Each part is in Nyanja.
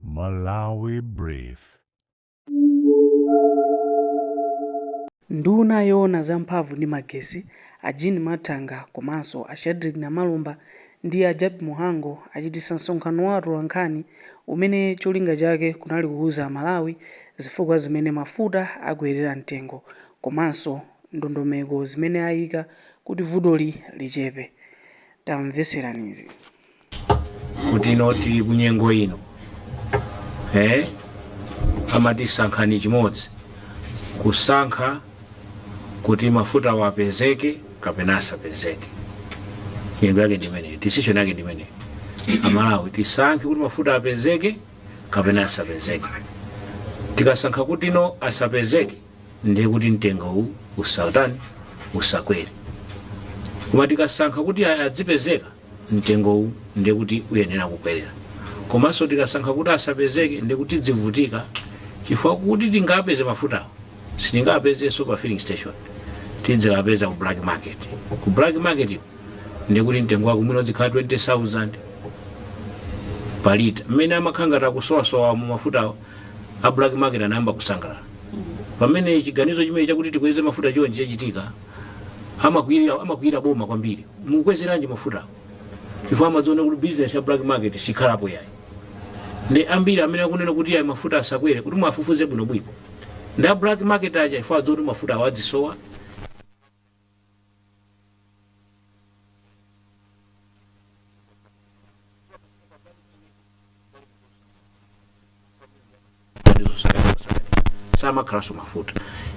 Malawi Brief. Nduna yoona za mphamvu ndi magesi, a Jean Mathanga komanso a Shadric Namalomba ndi a Jappie Muhango achititsa msonkhano wa atolankhani umene cholinga chake kunali kuuza Amalawi zifukwa zimene mafuta akwerera mtengo komanso ndondomeko zimene aika kuti vutoli lichepe. Tamvetserani izi. kuti ino tili ku nyengo ino eh? amati sankhani chimodzi kusankha kuti mafutawo apezeke kapena asapezeke nyengo yake ndimeneyo decision yake ndimeneyo amalawi tisankhe kuti mafuta apezeke kapena asapezeke tikasankha kuti no asapezeke ndiye kuti mtengo uwu usatani usakwere koma tikasankha kuti ayi adzipezeka mtengowu ndiye kuti uyenera kukwerera komanso tikasankha kuti asapezeke ndiye kuti tidzivutika chifukwa kuti tingapeze mafuta sitingapezenso pa filling station tidzikapeza ku black market ku black market iko ndiye kuti mtengo wako mwina udzikhala 20000 pa lita mmene amakhala ngati akusowasowa mu mafutawo a black market anayamba kusangalala pamene chiganizo chimene chakuti tikweze mafuta chonje chachitika amakwiyira amakwiyira boma kwambiri mukwezeranji mafutawo chifukwa amadziona kuti business ya black market sikhalapo yayi ndi ambiri amene akunena kuti ayi mafuta asakwere kuti mwafufuze bwinobwino ndi a black market aja chifukwa adziona kuti mafutawo adzisowa samakhalanso mafuta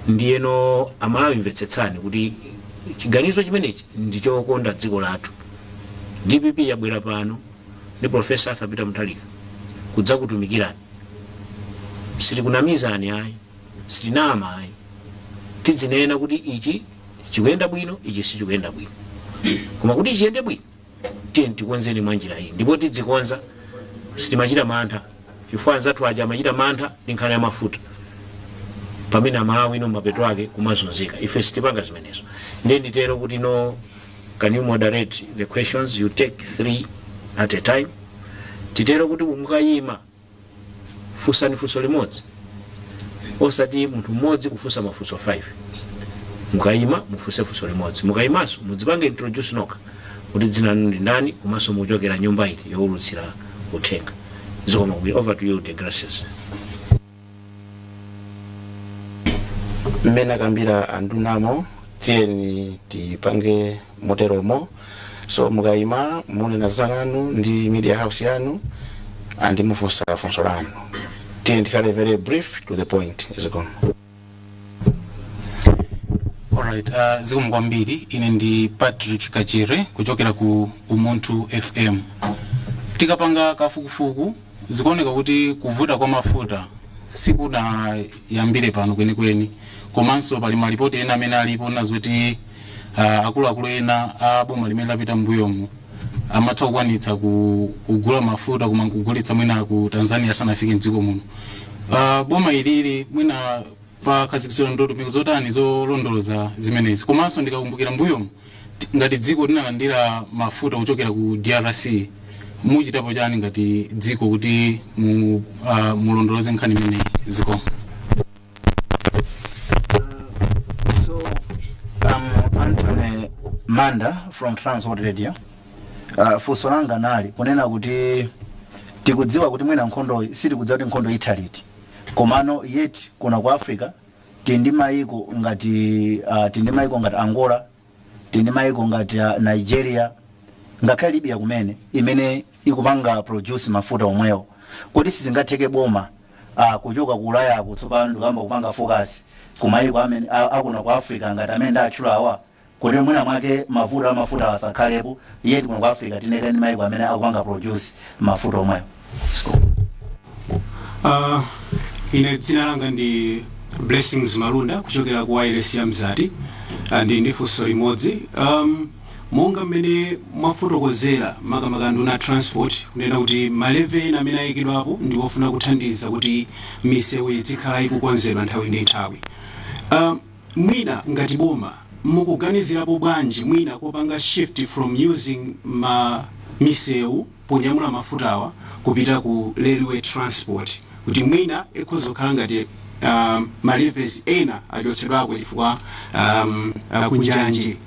ndiyeno amalawi mvetsetsani kuti chiganizo chimenechi ndi chokonda dziko lathu dpp yabwera pano ndi profesa arthur peter mutharika kudzakutumikirani sitikunamizani ayi sitinama ayi tidzinena kuti ichi chikuyenda bwino ichi sichikuyenda bwino koma kuti chiyende bwino Tiyeni tikonzeni mwanjira iyi ndipo tidzikonza. Sitimachita mantha chifukwa anzathu aja amachita mantha ndi nkhani ya mafuta pamene Amalawi no mapeto ake kumazunzika. Ife sitipanga zimenezo. Ndiye nditero kuti no can you moderate the questions, you take three at a time. Titero kuti mukayima. funsani funso limodzi osati munthu mmodzi kufunsa mafunso 5 mukayima mufunse funso limodzi mukayimanso mudzipange introduce nokha kuti dzina lanu ndi ndani komanso mukuchokera nyumba iti yowulutsira uthenga zikomo kwambiri over to you deogratias mmene akambira andunamo tiyeni tipange moteromo so mukayima munena dzina lanu ndi media house yanu and mufunsa funso lanu tiyeni tikhale very brief to the point zikomo. Alright, uh, zikomo kwambiri ine ndi patrick kachere kuchokera ku umunthu fm tikapanga kafukufuku Zikuoneka kuti kuvuta kwa mafuta sikunayambire pano kwenikweni. Komanso pali malipoti ena amene alipo onena zoti ah, akuluakulu ena a boma limene lapita m'mbuyomu amatha kukwanitsa ku- kugula mafuta koma nkugulitsa mwina ku Tanzania asanafike m'dziko muno. Ah, Boma ilili mwina pakhazikitsidwa ndondomeko zotani zolondoloza zimenezi. Komanso ndikakumbukira m'mbuyomu Ngati dziko tinalandira mafuta kuchokera ku drc muchitapo chani ngati dziko kuti mu, uh, mulondoloze nkhani imeneyi zikomo So, I'm Anthony Manda from Transworld Radio. Uh, funso langa linali kunena kuti tikudziwa kuti mwina nkhondoyi sitikudziwa kuti nkhondo itha liti komano yet kuno ku africa Tili ndi maiko ngati uh, tili ndi maiko ngati Angola, tili ndi maiko ngati uh, Nigeria ngakhale Libya komwe imene ikupanga produce mafuta omwewo. Kodi sizingatheke boma uh, kuchoka ku Ulayako tsopano ndikuyamba kupanga focus ku maiko amene a- akuno ku Africa ngati amene ndatchulawa? kuti mwina mwake mavuto amafuta asakhalepo yet kuno ku africa tili kale ndi maiko amene akupanga produce mafuta omwewo Uh, ine dzina langa ndi blessings malunda kuchokera ku wireless ya mzati uh, ndi- ndi funso limodzi um, monga mmene mwafotokozera makamaka nduna a transport kunena kuti ma levy ena amene ayikidwapo ndi ofuna kuthandiza kuti misewu izikhala ikukonzedwa nthawi ndi nthawi um, Mwina ngati boma mukuganizirapo bwanji mwina kopanga shift from using misewu ponyamula mafutawa kupita ku railway transport kuti mwina ikhoza kukhala ngati ma levies ena achotsedwako chifukwa kunjanji.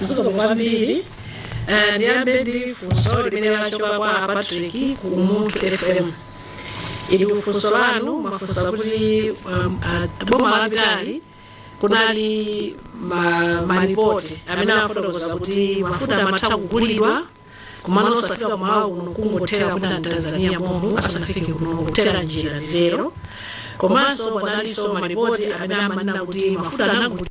zikomo kwambiri Ah, ndiyambe ndi funso limene lachoka kwa patrick ku umunthu fm ili funso lanu mwafunsa kuti um, ah, boma lapitali kunali ma- malipoti amene amafotokoza kuti mafuta amatha kugulidwa komano osafika kumalawi kuno kungothera kwina mtanzania momwemo asanafike kuno kungothera mnjira ndi zotero komanso panalinso malipoti amene amanena kuti mafuta anagulidwa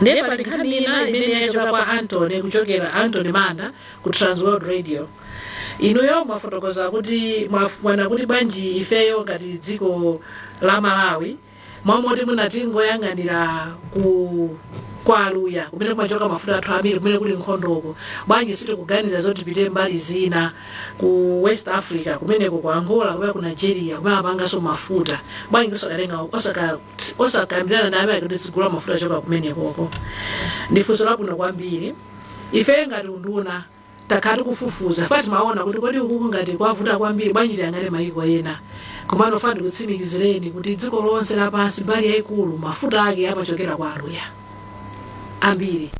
ndiye pali nkhani ina imene yachoka kwa antony kuchokera antony manda ku transworld radio inuyo mwafotokoza kuti mwina kuti bwanji ifeyo ngati dziko la malawi m'malo moti tingoyang'anira ku kwa aluya kumene kumachoka mafuta athu ambiri kumene kuli nkhondoko bwanji sitikuganiza zoti tipite mbali zina ku west africa kumeneko ku angola kumene ku nigeria kumene amapanganso mafuta bwanji osakatenga osaka osakambirana ndi amenewo kuti tizigula mafuta ochoka kumenekoko ndi funso labwino kwambiri ife ngati unduna takhala tikufufuza fa timaona kuti kodi ukuku ngati kwavuta kwambiri bwanji tiyang'ane mayiko ena komano fa ndikutsimikizireni kuti dziko lonse lapansi mbali yayikulu mafuta ake amachokera kwa aluya ambiri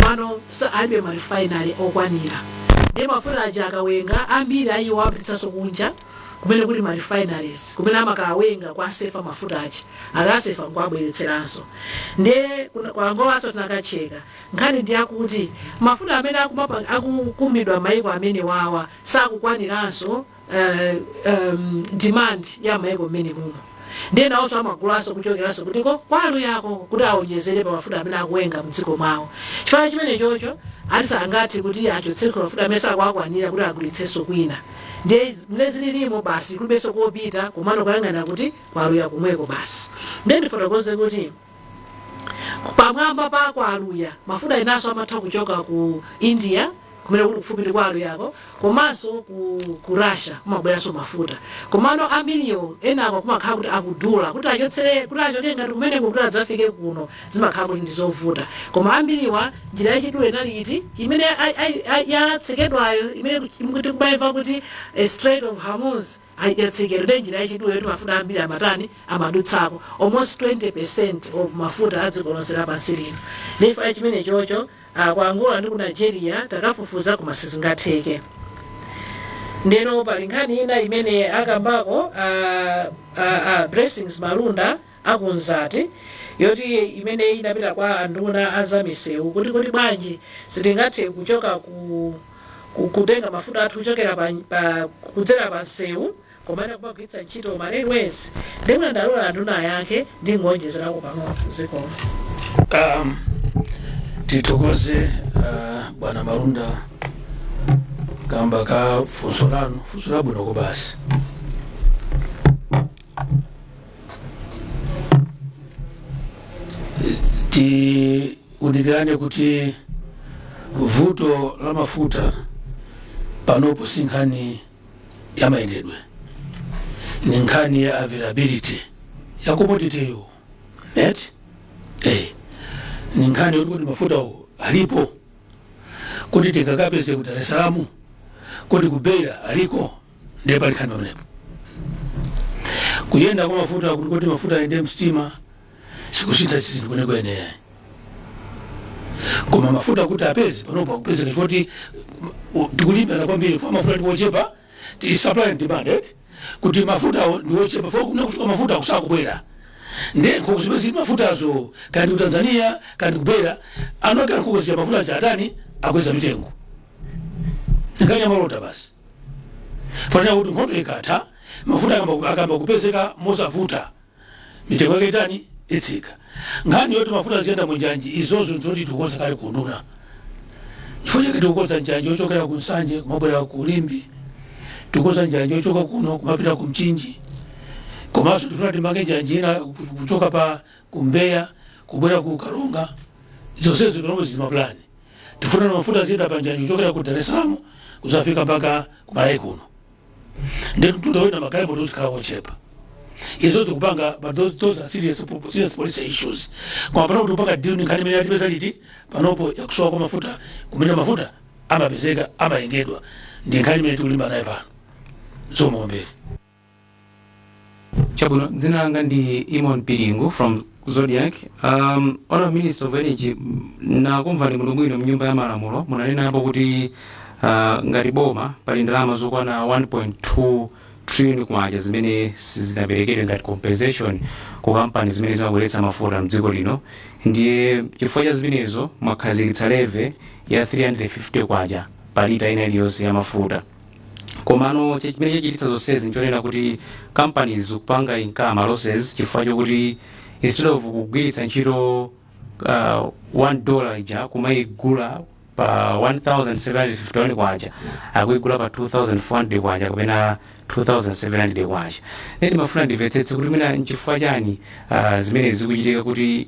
komano sa- alibe marifainali okwanira ndiye mafuta aja akawenga ambiri a iwo amapititsanso kunja kumene kuli marifainaries kumene amakawenga kuwasefa mafuta aja akasefa nkuabweretseranso ndiye kuna- kwa angolanso tinakacheka nkhani ndi yakuti mafuta amene akumapa- akukumidwa maiko amenewawa sakukwaniranso uh, um, demand ya maiko amenewo ndiye nawonso amagulaso kuchokeraso kuti ko kwa aluyako kuti awonjezere pa mafuta amene akuwenga mdziko mwawo chifukwa chimenechocho ati sangathe kuti achotseko mafuta amene sakuakwanira kuti agulitsenso kwina ndiye mmene zilirimo basi kulibenso kopita komano kuyang'ana kuti kwa aluya komweko basi ndiye ndifotokoze kuti pamwamba pa kwa aluya mafuta enanso amatha kuchoka ku india kumene kuli kufupi ndi kwa aluyako komanso ku, ku russia kumabweranso mafuta komano ambiriwo enako kumakhala kuti akudula kuti achotsere kuti achoke ngati kumeneko kuti adzafike kuno zimakhala kuti ndi zovuta koma ambiriwa njira yachidule inali iti imene ai- ai- ai- yatsekedwayo imene tikumayimva kuti eh, strait of hormuz Yatsekedwayo nde njira yachidule yoti mafuta ambiri amatani amadutsako, almost 20% of mafuta a dziko lonse lapansi lino. Ndiye chifukwa cha chimenechocho, a, ku Angola ndi ku Nigeria takafufuza koma sizingatheke. Ndiyeno pali nkhani ina imene akambako a, a, a Blessings Malunda. a ku Nzati yoti imene inapita kwa anduna a za misewu kuti kodi bwanji sitingathe kuchoka ku, ku kutenga mafuta athu kuchokera pa, pa kudzera pa msewu komano kumagwiritsa ntchito ma railways nde mwina ndilola anduna ayankhe ndingoonjezerako pang'ono zikomo Um, tithokoze uh, bwana Malunda kamba ka funso lanu funso labwino kobasi tiunikirane kuti vuto la mafuta panopo si nkhani ya mayendedwe ni nkhani ya availability ya commodityyo nde eh. ni nkhani yoti kodi mafutawo alipo kodi tikakapeze ku dar es salaam kodi ku beira aliko ndiye pali nkhani pamenepo kuyenda kwa mafuta kuti kuti mafuta ayende msitima sikusintha zinthu kwenikweni koma mafuta kuti apeze panopa akupezeka chifukwa choti tikulimbana kwambiri chifukwa mafuta ndiwochepa ndi supply and demand eti kuti mafuta ndiwochepa chifukwa kumene kukuchoka mafuta sakubwera nde nkhokwe zimene zili mafutazo kaya ndi ku tanzania kaya ndi ku beira eni ake nkhokwe zija mafuta aja atani akweza mitengo kungoyang'ana malonda basi ofanana kuti nkhondo ikatha mafuta akayamba- akayamba kupezeka mosavuta mitengo yake itani itsika nkhani yoti mafuta aziyenda mu njanji izozo nzoti tikukonza kale kunduna chifukwa chake tikukonza njanji yochokera ku nsanje kumabwera ku limbe tikukonza njanji yochoka kuno kumapita ku mchinji komanso tifuna timange njanji ina kuchoka pa ku mbeya kubwera ku karonga zonsezo timo zili mapulani Tifuna mafuta aziyenda pa njanji kuchokera ku Dar es Salaam kuzafika mpaka ku Malawi kuno. Nde mtunda woyenda magalimoto uzikhala wochepa. Izo tikupanga but those, those are serious, po- serious policy issues. Kwa panopo tikupanga deal ni nkhani imene yatipeza eti panopo yakusowa kwa mafuta kumene mafuta amapezeka amayengedwa ndi nkhani imene tikulimbana nayo pano. Zikomo kwambiri. chabwino dzina langa ndi Eamon Piringu from Zodiak um, honourable minister of energy m- nakumvani muno bwino mnyumba ya malamulo munanenapo kuti uh, ngati boma pali ndalama zokwana 1.2 trillion kwacha zimene sizinaperekedwe ngati compensation ku kampani zimene zimabweretsa mafuta mdziko lino ndiye chifukwa cha zimenezo mwakhazikitsa levy ya 350 kwacha pa lita ina iliyonse ya mafuta komano che- chimene chachititsa zonsezi nchonena kuti kampani zikupanga incur ma losses chifukwa chokuti instead of kugwiritsa ntchito uh, 1 dollar ija kumayigula pa 1751 kwacha akuyigula pa 2400 kwacha kapena 2700 kwacha nde ndimafuna ndimvetsetse kuti mwina nchifukwa chani uh, zimene zikuchitika kuti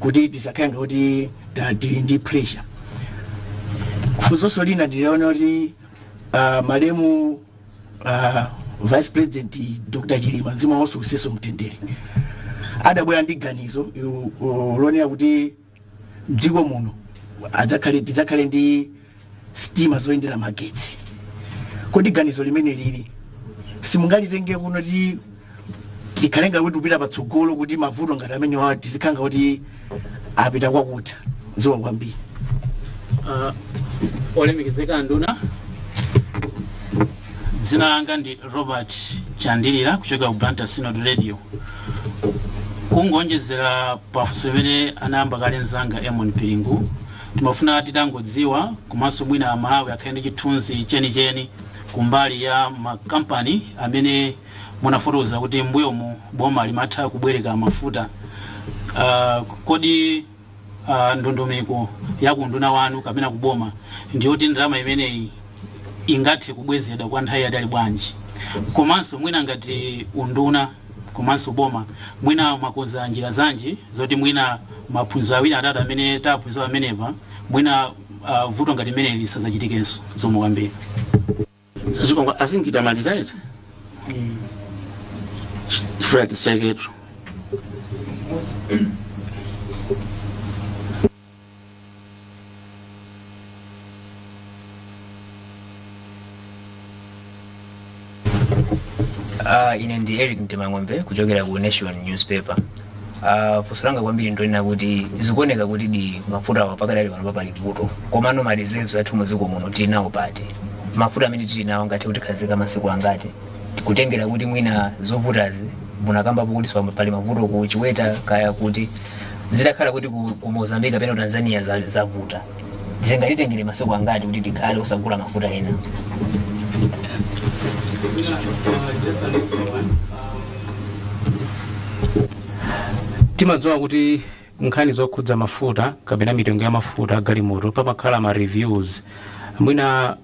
kuti tisakhale ngati ta- tili ndi pressure funsoso lina ndi lonena kuti uh, malemu uh, vice president dr chilima mzimu wawo uwusebe mu mtendere adabwera ndi ganizo yu- u- lonena kuti mdziko muno adzakhale tidzakhale ndi sitima zoyendera magetsi kodi ganizo limeneli simungalitenge kuno kuti tikhalenga kuti kupita patsogolo kuti mavuto ngati amenewa tizikhanga kuti apita kwakutha zikomo kwambiri uh, olemekezeka nduna dzina langa ndi robert chandilira kuchokera ku blantyre synod radio kungonjezera pafunso limene anayamba kale mzanga emon piringu Timafuna titangodziwa komanso mwina a Malawi akhale ndi chithunzi cheni cheni kumbali ya ma company amene munafotokoza kuti m'mbuyomu boma limatha kubwereka mafuta. Uh, kodi uh, ndondomeko ya kunduna wanu kapena kuboma ndiyoti ndalama imeneyi ingathe kubwezedwa kwa nthawi yaitali bwanji komanso mwina ngati unduna komanso boma mwina mwakonza njira zanji zoti mwina maphunziro awiri atatu amene taphunzira pamenepa mwina vuto ngati limeneli lisadzachitikenso zikomo kwambiri. Zikomo I think tamaliza eti chifukwa tiseketu Uh, ine ndi eric mtemang'ombe kuchokera ku nation newspaper uh, funso langa kwambiri ndonena kuti zikuoneka kutidi mafuta awa pakadali pano pa pali vuto komano ma reserves athu muziko muno tili nawo pati mafuta amene tili nawo angathe kutikhazika masiku angati kutengera kuti mwina zovutazi munakambapo kuti swamba pali mavuto ku chiweta kaya kuti zitakhala kuti ku, ku mozambique kapena ku tanzania za- zavuta zingatitengere masiku angati kuti tikhale osagula mafuta ena timadziwa kuti nkhani zokhudza mafuta kapena mitengo ya mafuta agalimoto pamakhala ma reviews mwina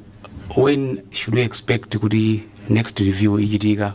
when should we expect kuti next review ichitika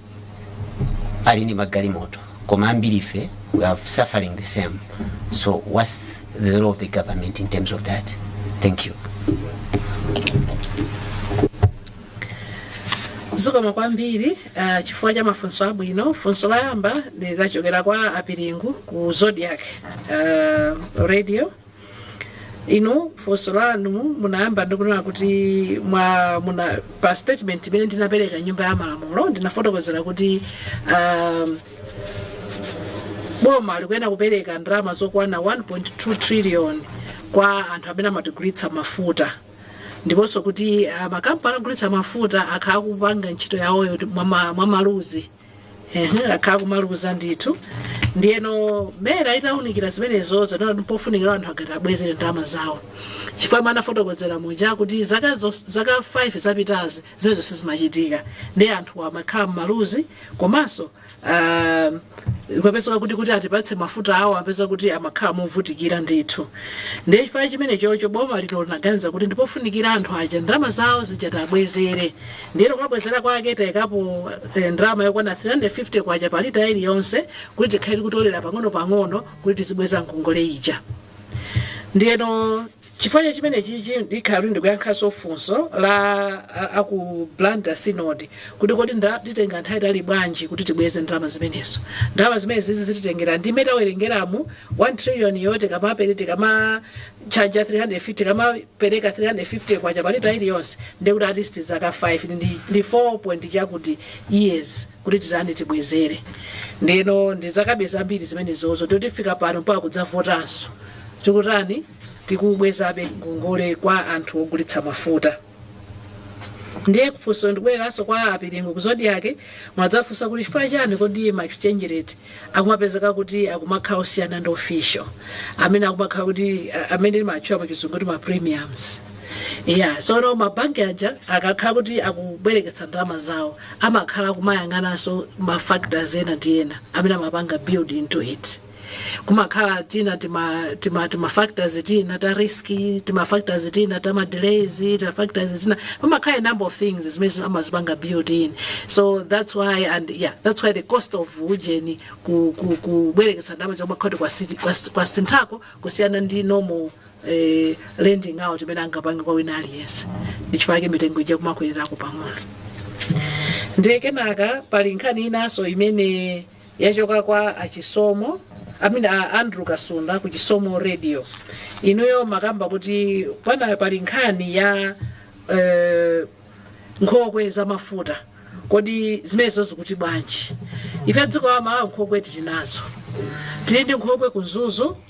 ali ndi magalimoto koma ambiri ife we are suffering the same so what's the role of the government in terms of that thank you zikomo kwambiri uh, chifukwa cha mafunso abwino funso loyamba lachokera kwa apiringu ku zodiak uh, radio inu funso lanu munayamba ndikunena kuti mwa muna pa statement imene ndinapereka m'nyumba ya malamulo ndinafotokozera kuti um, boma likuyenera kupereka ndalama zokwana 1.2 trillion kwa anthu amene amatigulitsa mafuta ndiponso kuti ah, makampani ogulitsa mafuta akhala akupanga ntchito yawoyo mwamaluzi Ehe, akhala kumaluza ndithu ndiyeno MERA itaunikira zimenezo inaona kuti mpofunikira anthu aja tiwabwezere ndalama zawo chifukwa mmene ndafotokozera muja kuti zaka, zos- zaka 5 zapitazi zimenezo sizimachitika ndiye anthu amakhala mmaluzi komanso ah, kupezeka kuti kuti atipatse mafutawo apezeka kuti amakhala movutikira ndithu ndiye chifukwa chimenechocho boma lino linaganiza kuti ndipofunikira anthu aja ndalama zawo zija tiwabwezere Ndiyeno kabwezera kwake taikapo ndalama yokwana K350 pa lita iliyonse kuti tikhale tikutolera pang'onopang'ono kuti tizibweza ngongole ija. Ndiyeno chifukwa cha chimenechichi ndikhala kuti ndikuyankhanso funso la a ku Blantyre Synod kuti kodi titenga nthawi yaitali bwanji kuti tibweze ndalama zimenezo. Ndalama zimenezi zititengera mmene tawerengeramu, K1 triliyoniyo charge 350 tikamapereka 350 kwacha pa lita iliyonse ndekuti at least zaka 5 ndi, ndi 4 point chakuti years kuti titani tibwezere ndeno ndi zakabe zambiri zimenezozo totifika pano mpaka kudzavotanso tikutani tikubwezabe ngongole kwa anthu ogulitsa mafuta ndiye funso ndikubwereranso kwa a Piringu ku Zodiak mwadzafunsa kuti chifukwa chani kodi ma exchange rate akumapezeka kuti akumakhala osiyana ndi official amene akumakhala kuti a- amene timatchula pa chizungu kuti ma premiums yeah tsono mabanki aja akakhala kuti akubwereketsa ndalama zawo amakhala akumayang'ananso ma factors ena ndi ena amene amapanga build into it kumakhala tina tima tima tima factors tina ta risk tima factors tina ta ma delays tima factors tina kumakhala a number of things zimene amazipanga build in so that's why and yeah that's why the cost of ujeni ku ku kubwereketsa ndalama zimakhala kuti kwa si- kwa, kwasinthako kusiyana ndi normal eh, lending out imene angapange kwa wina aliyense ndichifukwa chake mitengo ija imakwererako pang'ono ndiye kenaka pali nkhani inanso imene Yachoka kwa a Chisomo, I mean a Andrew Kasunda ku Chisomo Radio. Inuyo mwakamba kuti pana pali nkhani ya eh, nkhokwe za mafuta. Kodi zimenezo zikuti bwanji? Ife dziko la Malawi nkhokwe tili nazo. Tili ndi nkhokwe ku Mzuzu,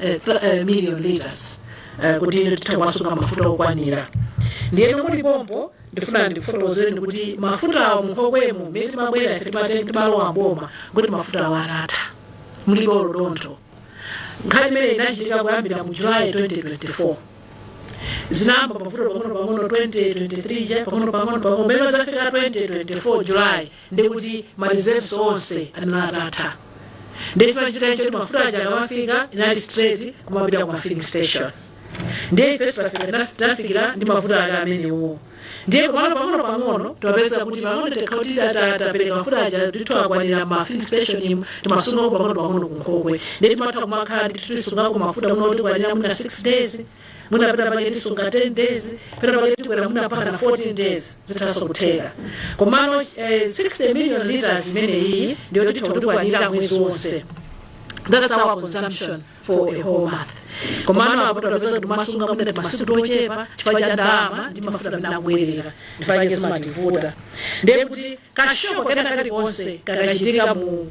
eh, thir- eh, million liters eh, kuti inde titha kuwasunga mafuta okwanira ndiyeno muli pompo ndifuna ndikufotokozereni kuti mafutawo munkhokwemo mmene timabwera ife timatenga timalowa mboma kuti mafutawo atatha mulibe olo dontho nkhani imene inachitika kuyambira mu julayi 2024 zinayamba kuvuta pang'ono pang'ono 2023 ja pang'ono pang'ono pang'ono pamene pazafika 2024 julayi ndiye kuti ma reserves onse anali atatha ndiye chimachitika nchoti mafuta aja akamafika inali straight kumapita ku mafilling station ndiye ife tafika tinaf- tinafikira ndi mafuta ake amenewo ndiye pang'ono pang'ono timapeza kuti pang'ono tikati tapereka mafuta aja ndithu akwanira ma filling station muno timasunga pang'ono pang'ono kunkhokwe ndiye timatha kumakhala ndithu tisungako mafuta muno otikwanira mwina 6 days mwina pena pake tisunga 10 days pena pake tikwera mwina mpaka na 14 days zithaso kutheka komano eh, 60 million liters imene iyi ndiyo yotikwanira mwezi wonse that's our consumption for a whole month komano apo tapeza kuti timasunga mwina timasiku tochepa chifukwa cha ndalama ndi mafuta amene akubwera ndichifukwa chake zimativuta ndiye kuti ka shock kena kalikonse kakachitika mu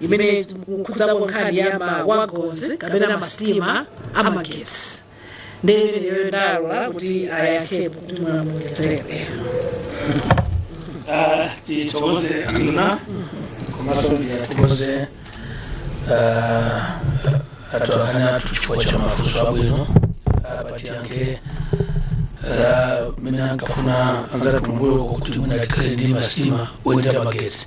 imene ikukhudzako nkhani ya mawagons kapena masitima amagetsi ndiye ndalola kuti ayankhepo kuti mulamulidzere Ah, tithokoze anduna komanso ndiwathokoze atolankhani athu chifukwa cha mafunso abwino apa tiyankhe la mmene anafunsa anzathu kumbuyo kuti mwina tikhale ndi masitima oyendera magetsi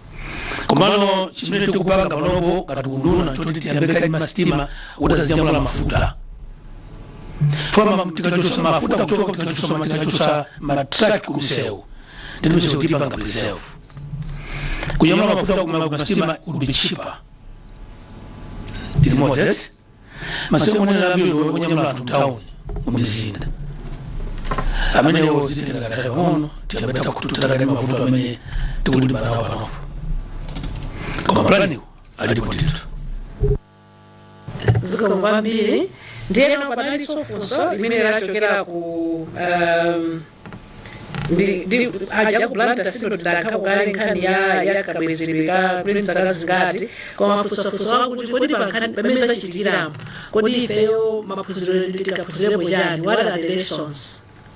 komano chimene tikupanga panopo ngati unduna nchoti tiyambe kaye ndi masitima kuti azinyamula mafuta chifukwa tikachosa mafuta kuchoka tikachosa ma- tikachosa matruck kumsewu ndi misewu tiipanga preserve kunyamula mafuta kuma- kumasitima would be cheaper tili modest masiku onena ambiri onyamula anthu mtown mumizinda amenewo zititengera kanthawi pang'ono tiyambe tathana ndi mavuto amene tikulimbana nawo panopo koma planiwo alipo ndithu zikomo kwambiri ndiyeno panalinso funso limene lachokera ku um, Ndi- ndi- aja ku blantyre sindinayankhepo kale nkhani ya- ya kabwezedwe kuti mzaka zingati koma amafunsanso kuti kodi pa nkhani mmene zachitikiramo kodi ifeyo maphunziro tikaphunzirepo chani what are the lessons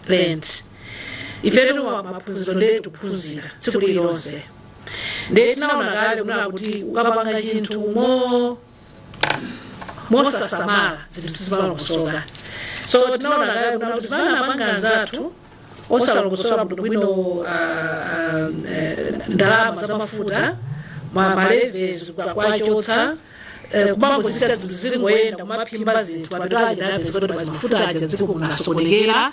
learned ifetu ma- maphunziro nde tikuphunzira tsiku lililonse nde tinaona kale kunena kuti ukapanga chinthu mo mosasamala zinthu sizimalongosoka so tinaona kale kunena kuti zimene amapanga anzathu osalongosola bwinobwino ah, ah, eh, ndalama za mafuta ma ma levies kuwachotsa eh, kumangozisiya zinthu zizingoyenda kumabvimba zinthu mapeto ake napezeka kuti pati mafuta aja dziko linasokonekera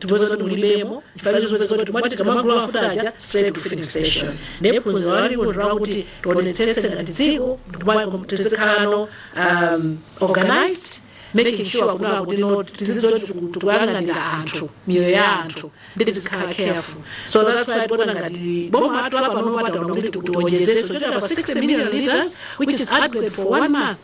tipeza kuti mulibemo chifukwa chozipeza kuti kuti tikamagula mafuta aja straight to filling station ndiye phunziro lake ndi lakuti tionetsetse ngati dziko ndikumayiko tizikhalako um, organized making sure kuti akutino tizidziwa tikuyang'anira anthu miyoyo ya anthu ndi tizikhala careful so that's why tikuona ngati boma athu lapano taona kuti tiwonjezeso kuchokera pa 60 million liters which is adequate for one month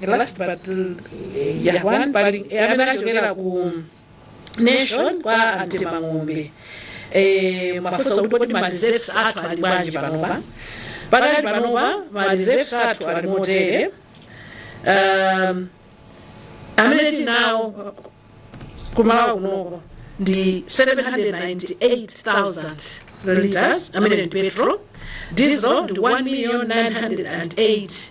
the last but uh, yeah, one pali eh, amene anachokera ku nation kwa a Mtemang'ombe eh, amafunsa kuti kodi ma reserves athu ali bwanji panopa pakali panopa ma reserves athu ali motere um, amene tili nawo ku Malawi kunoko ndi 798,000 liters amene ndi petrol diesel ndi 1,908,000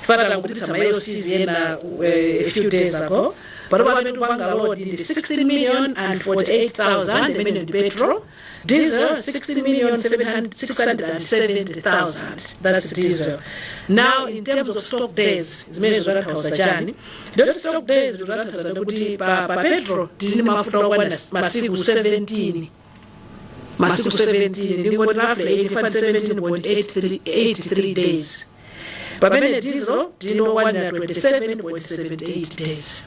chifukwa tangopititsa ma LCs ena eh, a few days ago panopa amene tikupanga load ndi 16 million and 48000 amene ndi petrol diesel 16 million 670000 that's diesel now in terms of stock days zimene zikutanthauza chani ndi zoti stock days zikutanthauza ndikuti pa, pa petrol tili ndi mafuta okwana masiku 17 masiku 17 ndingoti roughly 85 17.83 days pamene diesel tili ndi okwanira 27.78 days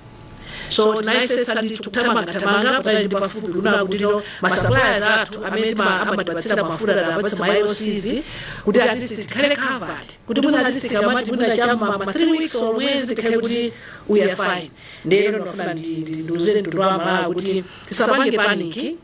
so tinayesetsa ndithu kuthamangathamanga patali ndi pafupi kuona kuti masuppliers athu amene tima- amatipatsira mafuta tapatsa ma LCs kuti at least tikhale covered kuti mwina at least tikamati mwina chama ma 3 weeks or mwezi tikhale kuti we are fine ndiyeno ndikufuna ndi- ndi- ndiuze mtundu wa malawi kuti tisapange panic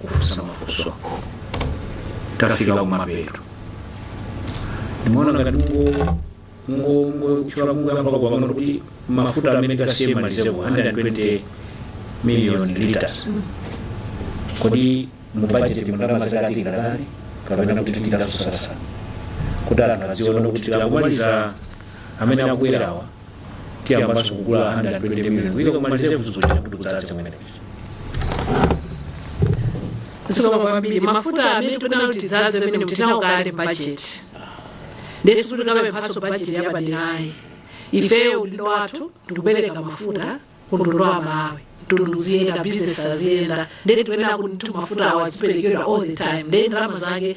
kufunsa mafunso tafika kumapeto ndimaona ngati mungo mungo mungo chula mungo yamba kupangana kuti mafuta amene asiyidwe ma reserve 120 million liters kodi mu budget mundalama zake atenga ndani kapena kuti tichitaso sasa kuti anthu adziona kuti tikamaliza amene akubwerawa tiyambanso kugula 120 million kuika ku ma reserve-wo kuti kudzadze kumeneko zikomo kwambiri mafuta amene tikunena kuti tidzadze amene tili nawo kale mu bajeti nde sikuti tikapemphaso bajeti yapadera ayi ifeyo udindo wathu ndikupereka mafuta ku mtundu wa malawi mtundu uziyenda bizinesi aziyenda nde tikuyenera kuti mafuta awo aziperekedwa all the time ndee ndalama zake